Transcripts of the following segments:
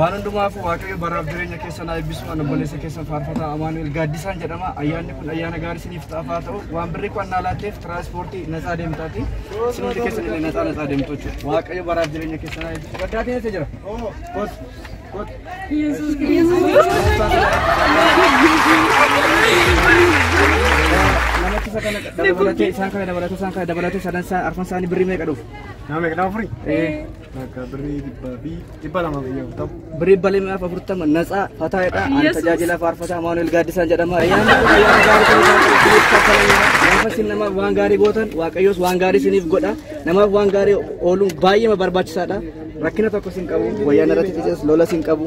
Waan hundumaafuu Waaqayyo baraaf jireenya keessan haa eebbisu. Ani obboleessa keessan faarfataa Amaanu'el Gaaddisaan jedhama. Ayyaanni kun ayyaana gaarii isiniif ta'aaf haa ta'u. Waan birrii qo'annaa laatteef tiraanspoortii natsaa deemtaati. Isin hundi keessan illee natsaa natsaa deemtu jechuudha. Waaqayyo baraaf jireenya keessan haa eebbisu. Gaddaa keessa jira. Kot, kot. Yesuus Namichi isa kana dabalatee isaan kana dabalatee isaan kana dabalatee sadan isaa arfan isaanii birrii meeqa dhufu? Nama meeqa? Nama afurii? Bakka birrii dhibbaa fi dhibba lamaa fi afurtama. Birrii dhibba lamaa fi afurtama natsaa fataa jedha. Ani tajaajila faarfataa Amaanuel Gaaddisaan jedhama. Ayyaanni kun ayyaana gaarii ta'uu isaatiif isiniif kaffalamudha. Gaafa isin namaaf waan gaarii gootan Waaqayyos waan gaarii isiniif godha. Namaaf waan gaarii ooluun baay'eema barbaachisaadha. Rakkina tokko isin qabu. Wayyaan irratti xixiqqas lola isin qabu.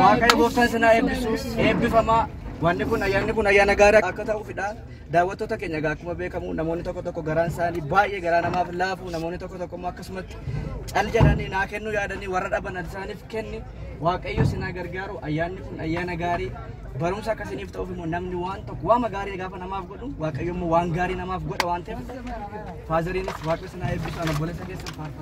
Waaqayyo gooftaan isin haa eebbisu. Eebbifamaa. Wanni kun ayyaanni kun ayyaana gaarii akka ta'uufidha. Daawwattoota keenya egaa akkuma beekamu namoonni tokko tokko garaan isaanii baay'ee garaa namaaf laafu namoonni tokko tokko immoo akkasumatti cal jedhanii naa kennuu yaadanii warra dhaban isaaniif kenni waaqayyo isin haa gargaaru ayyaanni kun ayyaana gaarii barumsa akka isiniif ta'uuf immoo namni waan tokko waama gaarii gaafa namaaf godhu waaqayyo immoo waan gaarii namaaf godha waan ta'eef faazariinis waaqayyo isin haa eebbisu ana obboleessa keessan faarfatu.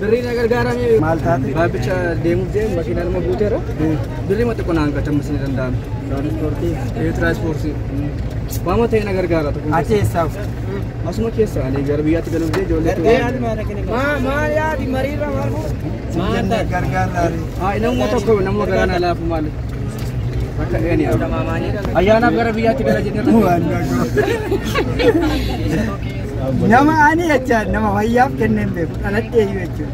Birrii na gargaaramee Maal taate? baabbicha deemuuf deemu makiinaa nama guuteera. Birrii mata qonaan gatamu isin danda'ame. Tiraansipoortii. Waama ta'e na gargaara tokko. Ati eessaaf? Asuma keessa ani gara biyyaatti galuuf jee ijoollee Haa namuma tokko namuma garaa na laafu maali? Akka eeni ayyaanaaf gara biyyaatti gala jedhee Nama ani jechaan nama fayyaaf kenneen beeku dhaladhee iyyuu jechuudha.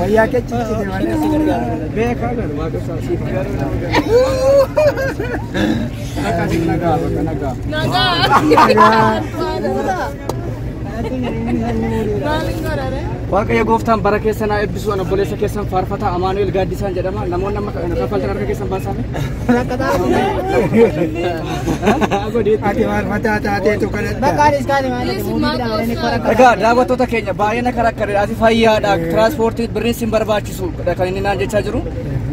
Wayyaa kee ciccite malee si gargaara. Beekaa garu waaqa isaa siif gargaara. Akka si nagaa bakka nagaa. Nagaa. Maaliin godhare? Waaqayyo gooftaan bara keessan haa eebbisu. Ani obboleessa keessan faarfataa Amaanu'el Gaaddisaan jedhama. Namoonni amma kaffaltan harka keessan baasaa. Ati maal mataa taateetu kadhatta? Egaa daawwattoota keenya baay'ee na karakkareedha. Ati fayyaadha. Tiraanspoortii birrii sin barbaachisu kan inni naan jechaa jiru.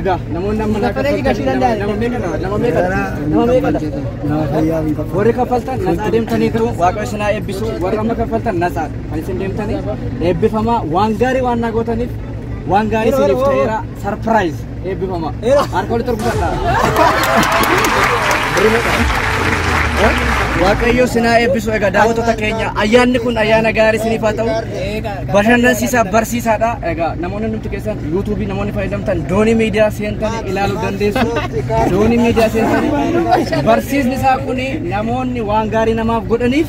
Egaa namoonni amma naa kaffaltan nama meeqadha? Nama meeqadha? Nama meeqadha? Nama fayyaa miti. Warri kaffaltan nasaa deemtaniitu waaqa isin haa eebbisu. Warri amma kaffaltan nasaa kan isin deemtanii eebbifamaa waan gaarii waan naa gootaniif waan gaarii isiniif ta'eera sarpiraayiz. Eebbifama. Harka walitti rukutadha. Waaqayyo sinaa eebbisu egaa daawwattoota keenya ayyaanni kun ayyaana gaarii siniif haa ta'u bashannansiisaa barsiisaadha egaa namoonni nuti keessan yuutuubii namoonni fayyadamtan doonii miidiyaa seentanii ilaaluu dandeessu doonii miidiyaa seentanii barsiisni isaa kun namoonni waan gaarii namaaf godhaniif